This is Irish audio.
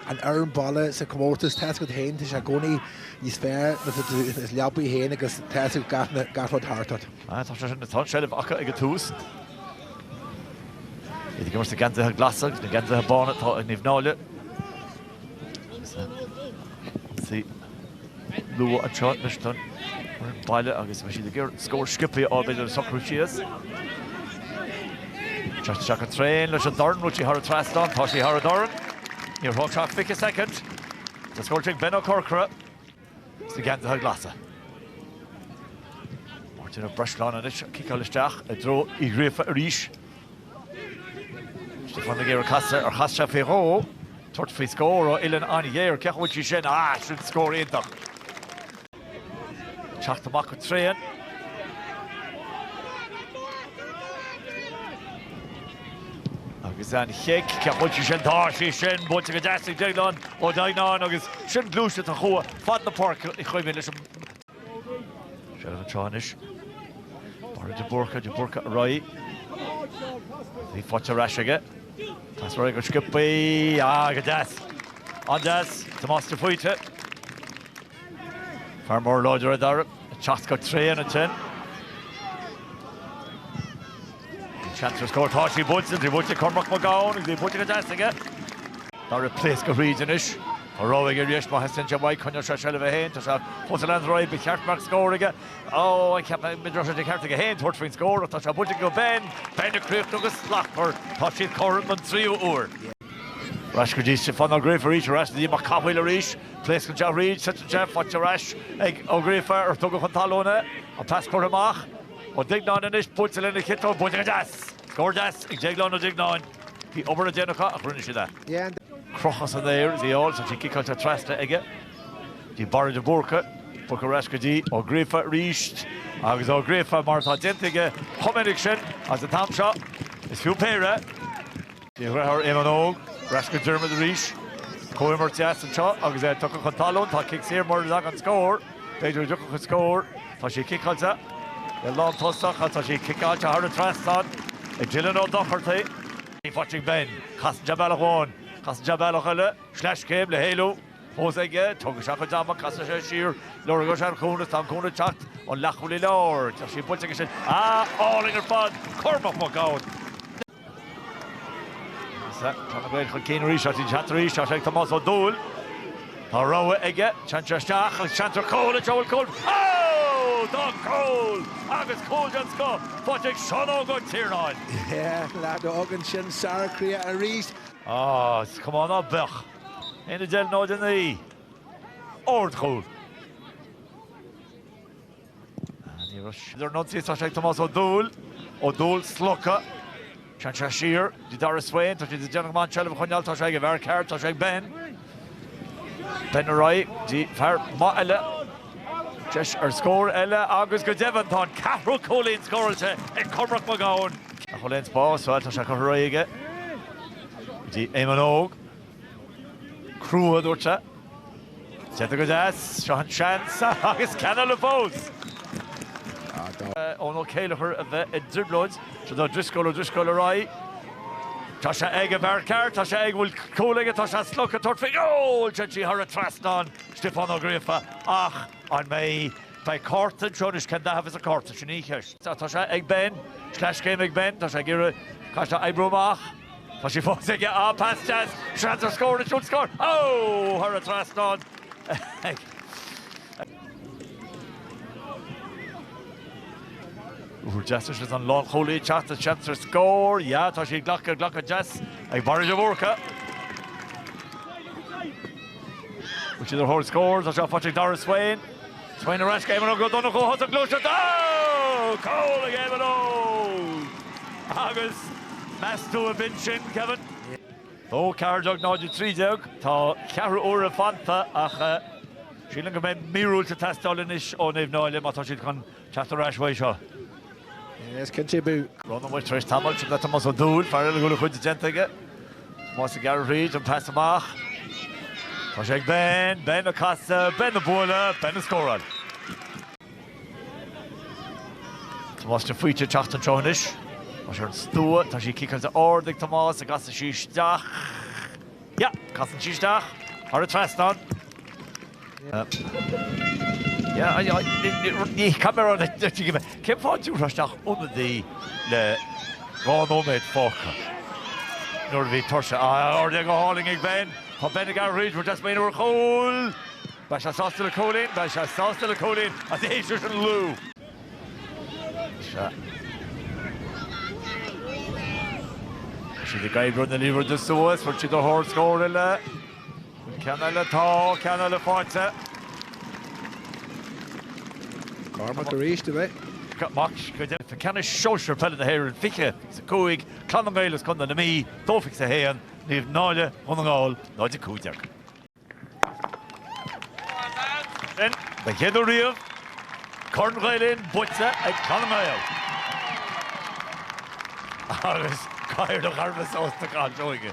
an fhoireann baile sa chomórtas. Tá a fhios agat féin, tá sé i gcónaí níos fearr i do leabaidh féin agus tá fhios agat gach rud thart ort. Tá seilbh acu ag an tús. Iad ag imirt sna geansaithe glasa agus na geansaithe bána atá ag Naomh Náille. Luath anseo leis an bhaile agus bheadh siad ag iarraidh scór sciobthaí a fháil le socrú síos. Teacht isteach go tréan leis an dorn, an bhfuil sí thar an trasnán, tá sí thar an dorn. Níor thóg sé ach fiche soicind scór ag Ben Ó Corcora sna geansaithe glasa. Máirtín Ó Breisleáin anois ag ciceáil isteach i dtreo Uí Ghríofa arís. Casadh géar casadh ar chas sé faoi dhó. Tabhairt faoi scór ó uillinn an-ghéar. Cé acu bhfuil sí sin? Ah, sin scór iontach. Teacht amach go tréan. Agus an chic, cé acu bhfuil sí sin? Tá sí sin! Buailte go deas ag Déaglán Ó Duigneáin agus sin gluaisteacht a chuaigh fad na páirce i gcuimhne leis an Seilbh anseo anois. Barra de Búrca, de Búrca ar aghaidh. Faighte ar ais aige. Casadh air go sciobtha. Ah, go deas. An-deas. Tomás de Faoite. Fear mór láidir é Dara. Ag teacht go tréan ansin. Seans scóir. Tá sí buailte tríd, buailte Cormac Mac Gabhann buailte go deas aige. Dara ag pléascadh thríd anois, Dara aige arís, má theastaíonn sé uaidh, coinneoidh sé seilbh a haon, tá sé chomh soiléir an raibh ba cheart amharc scóir aige, á, á, cheap mé go raibh sé de cheart aige féin tabhairt faoin scór, ach tá sé buailte go Ben, Ben ag críochnú go slachtmhar, tá siad cothrom don tríú uair. Arís go dtí Stiofán Ó Gríofa arís, arís go dtí Mac Cathmhaoil arís, pléascann sé thríd, titeann sé, faighte arís ag Ó Gríofa, ar tugadh chun talún é, an pas curtha amach, Ó Duigneáin anois buailte lena chiotóg go deas! Go deas ag Déaglán Ó Duigneáin. Bhí obair le déanamh acu ach rinne siad é. Crochta san aer. Bhí an liathróid ciceáilte trasna aige. Go dtí Barra de Búrca, de Búrca ar ais go dtí. Ó Gríofa arís agus Ó Gríofa mar atá déanta aige chomh minic sin agus an t-am seo. Is fiú péire. Ní thabharfadh Éamonn Óg ar ais go Dermot arís. Comhimirt dheas anseo agus é tugtha chun talún. Tá cic saor mura dtagann an scór. B'fhéidir go dtiocfadh an scór. Tá sé ciceáilte. Lán tosach atá sé ciceáilte thar an trasnán ag Dylan Ó Dochartaigh. Ní Phatrick Ben. Casann sé bealach amháin. Casann sé bealach eile. Sleaschéim le héalú fós aige. Tógfaidh sé a chuid ama. Casann sé siar. Lorgóidh sé an cúnamh is tá an cúnamh ag teacht ón leathchúlaí láir. Tá sí bainte aige sin. Ah! Álainn ar fad! Cormac Mac Gabhann! Tá na Gaeil chun cinn arís agus teacht arís, tá sé ag Tomás Ó Dúill, tá rogha aige sínte isteach agus seans ar chúl, an bhfuil cúl. Ó! Tá cúl agus cúl den scoth faighte ag Seán Óg Ó Tiarnáin. Yeah, leath a fhágann sin sara croidhe arís. Á, is cuma ná beadh. Aon a d'fheil nó a dheifhill í. Ard chúl. Anois tá siad ar an ionsaí, tá sé ag Tomás Ó Dúill, Ó Dúill slogtha, téann sé siar go Darragh Swain, tá siad ag déanamh go maith an seilbh a choinneáil, tá sé ag an bhfear ceart, tá sé ag Ben. Ben ar aghaidh go dtí fear maith eile. Deis ar scór eile agus go deimhin tá an ceathrú cúilín scóráilte ag Cormac Mac Gabhann. Nach bhfuil aon spás, bhuel tá sé curtha réidh aige go dtí Éamon Óg. Crua, a dúirt sé. Déanta go deas. Seo an seans agus ceann eile fós! Eoin Ó Céileachair a bheith i dtrioblóid. Seo do Driscoll, O'Driscoll ar aghaidh. Tá sé ag an bhfear ceart, tá sé ag an bhfear a bhfuil cúl aige, tá sé slogtha, tabhairt faoin gcúl! Téann sí thar an trasnán, Stiofán Ó Gríofa, ach an mbeidh, beidh cárta anseo anois, cén dath a bheas an cárta, sin í an cheist. Tá sé ag Ben, sleaschéim ag Ben, tá sé ag iarraidh, tá sé ag oibriú amach. Tá sí fós aige, á, pas deas, seans ar scór, an bhfuil scór? Ó! Thar an trasnán ag. Ó deas is an lánchúlaí ag teacht, seans ar scór, ja, tá sí ag glacadh, glacadh deas ag Barry de Búrca. Bhfuil siad ar thóir scór, tá seo faighte ag Darragh Swain. Smaoineamh ar ais, Éamon Óg Ó Donnchú, thosaigh an ghluaiseacht! Cúl ag Éamon Óg agus meas tú ab in sin, Kevin? Ó, ceathair déag, 0 13, tá ceathrú uaire fanta ach sílim go mbeidh míorúilt ag teastáil anois ó Naomh Náille má tá siad chun teacht ar ais uaidh seo. Is cinnte b'fhiú. Bogann muid tar éis tamaill sin le Tomás Ó Dúill, fear eile a bhfuil a chuid déanta aige. Tomás ag gearradh tríd an pas amach. Tá sé ag Ben, Ben ag casadh, Ben ag bualadh, Ben ag scóráil. Tomás de Faoite ag teacht anseo anois. Tá sé ar an stua, tá sí ciceáilte ard ag Tomás, an gcasann sí isteach. Yeah! Casann sí isteach thar an trasnán. Cén fáth dtiúrfá isteach ionadaí le dhá nóiméad fágtha nuair a bhí Tógtha san aer go hálainn ag Ben? Tá Ben ag aireáil tabhairt faoi maoin uair chúl. Beidh sé sásta le cúilín, beidh sé sásta le cúilín as a théis leis an lú. Tá siad ag oibriú na liathróide suas, tá siad ar thóir scór eile. Ceann eile atá, ceann eile fáighte. Cormac arís a bheith. Mac screidte, tá ceannais sóisir peile na hÉireann fiche is a cúig, Clann na nGael as Contae na Mí, dó, fiche a haon, Naomh Náille Dhún na nGall 0 15. Sin, don chéad uair riamh, Corn Ghael Linn buaite ag Clann na nGael. Agus gáir a ghabh sásta gan Seoige.